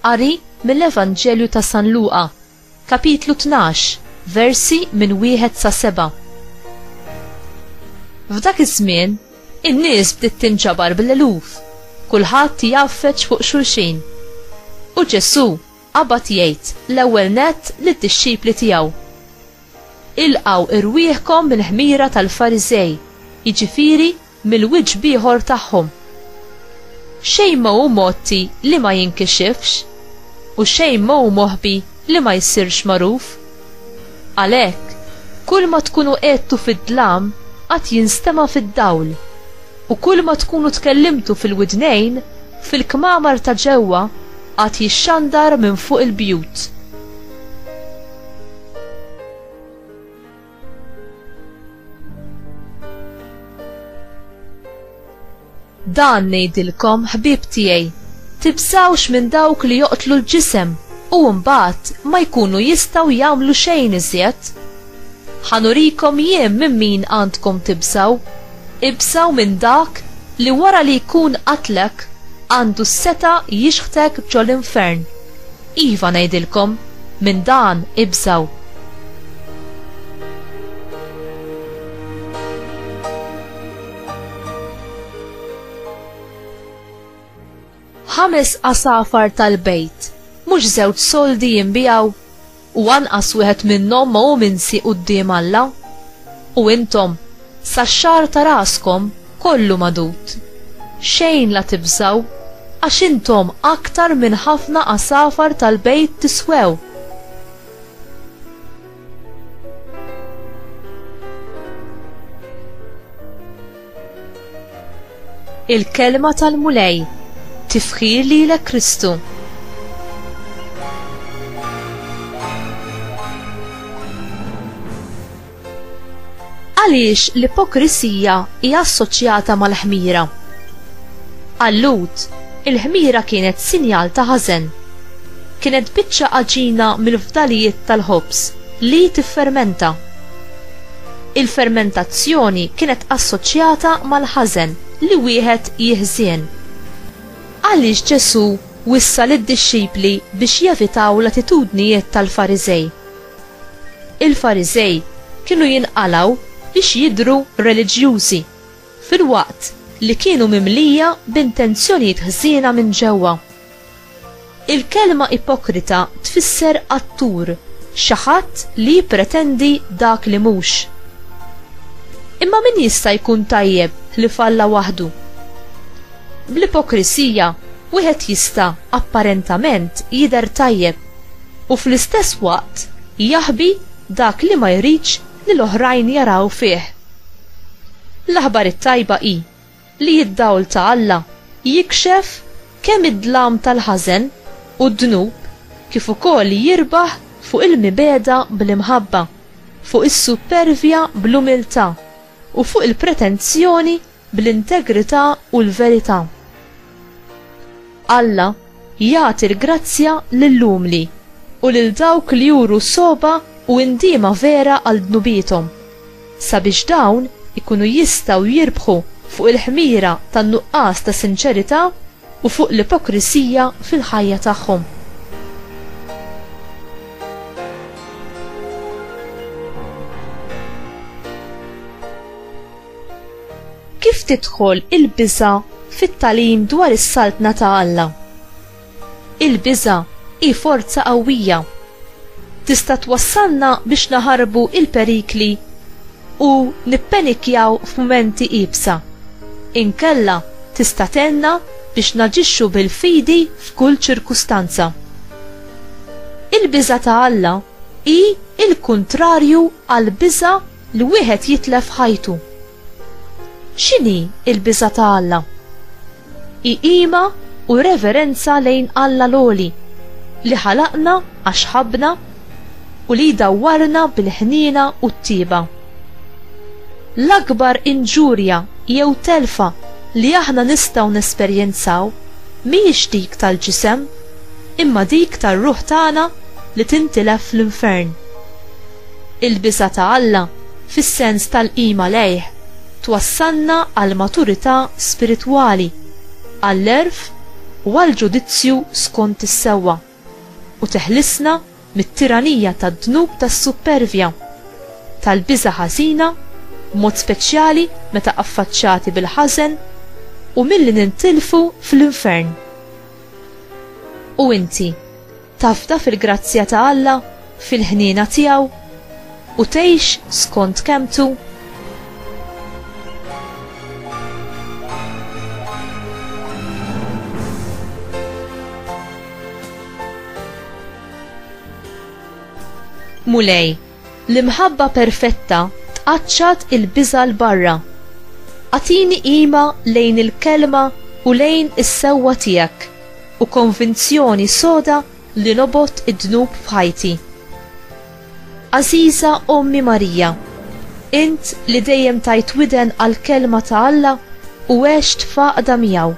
Qari mill-Evanġelju ta' San Luqa, kapitlu 12, versi minn wieħed sa seba'. F'dak iż-żmien, in-nies bdiet tinġabar bl-eluf, kulħadd jgħaffeġ fuq xulxin. U Ġesù, Qabad jgħid, l-ewwel nett, lid-dixxipli tiegħu, Ilqgħu rwieħkom mill-ħmira tal-Fariżej, jiġifieri mill-wiġb ieħor tagħhom. Xejn ma hu mgħotti li ma jinkixifx, u xejn ma hu moħbi li ma jsirx magħruf. Għalhekk, kull ma tkunu għedtu fid-dlam għad jinstema' fid-dawl, u kull ma tkunu tkellimtu fil-widnejn, fil-kmamar ta' ġewwa għad jixxandar minn fuq il-bjut. Dan ngħidilkom, ħbieb tiegħi, tibżgħux minn dawk li joqtlu l-ġisem u mbagħad ma jkunu jistgħu jagħmlu xejn iżjed. Ħa nurikom jien minn min għandkom tibżgħu, ibżgħu minn dak li wara li jkun qatlek għandu s-setgħa jixħtek ġol-infern. Iva ngħidilkom, minn dan ibżgħu. Ħames asafar tal-bejt, mhux żewġ soldi jinbijaw, u anqas wieħed minnhom ma hu minsi quddiem Alla. U intom, sax-xagħar ta' raskom kollu madud. Xejn la tibżgħu, għax intom aktar minn ħafna asafar tal-bejt tiswew. Il-kelma tal-Mulej tifħir lilek Kristu. Għaliex l-ipokrisija hija assoċjata mal-ħmira. Allut, il-ħmira kienet sinjal ta' ħażen Kienet biċċa għaġina mill-fdalijiet tal-ħobż li tiffermenta. Il-fermentazzjoni kienet assoċjata mal-ħażen li wieħed jiħżien. Għaliex Ġesù wissa lid-dixxipli biex jevitaw l-attitudnijiet tal-Fariżej? Il-Fariżej kienu jinqalgħu biex jidhru reliġjużi, filwaqt li kienu mimlija b'intenzjonijiet ħżiena minn ġewwa. Il-kelma ipokrita tfisser attur, xi ħadd li jippretendi dak li mhux. Imma min jista' jkun tajjeb ħlief Alla waħdu? Bl-ipokrisija wieħed jista' apparentament jidher tajjeb u fl-istess waqt jaħbi dak li ma jridx li l-oħrajn jaraw fih. L-aħbar it-tajba hi li d-dawl ta' Alla jikxef kemm id-dlam tal-ħażen u d-dnub kif ukoll jirbaħ fuq il-mibegħda bl-imħabba, fuq is-suppervja bl-umiltà, u fuq il-pretenzjoni bl-integrità u l-verità. Alla, Jagħti l-grazzja lill-umli, u lil dawk li juru sogħba u indiema vera għal dnubiethom, sabiex dawn ikunu jistgħu jirbħu fuq il-ħmira tan-nuqqas ta' sinċerità u fuq l-ipokrisija fil-ħajja tagħhom. Kif tidħol il-biża' fit-tagħlim dwar is-Saltna ta' Alla? Il-biża' hi forza qawwija. Tista' twassalna biex naħarbu l-perikli u nippenikjaw f'mumenti iebsa. Inkella tista' tgħinna biex naġixxu bil-fidi f'kull ċirkustanza. Il-biża' ta' Alla hi l-kuntrarju għall-biża' li wieħed jitlef ħajtu. X'inhi l-biża' ta' Alla? Hi qima u reverenza lejn Alla l-Għoli, li ħalaqna għax ħabbna u li jdawwarna bil-ħniena u t-tjieba. L-akbar inġurja jew telfa li aħna nistgħu nesperjenzaw mhijiex dik tal-ġisem, imma dik tar-ruħ tagħna li tintilef fl-infern. Il-biża' ta' Alla, fis-sens tal-qima lejh, twassalna għall-maturità spiritwali, għall-għerf u għall-ġudizzju skont is-sewwa, u teħlisna mit-tiranija tad-dnub tas-suppervja, tal-biża' ħażina, b'mod speċjali meta affaċċati bil-ħażen, u milli nintilfu fl-infern. U inti? Tafda fil-grazzja ta' Alla, fil-ħniena tiegħu, u tgħix skont kemmtu? Mulej, L-imħabba perfetta tqaċċat il-biża' 'l barra. Agħtini qima lejn il-Kelma u lejn is-sewwa tiegħek u konvinzjoni soda li nobgħod id-dnub f'ħajti. Għażiża Ommi Marija, int li dejjem tajt widen għall-Kelma ta' Alla u għext f'għaqda miegħu,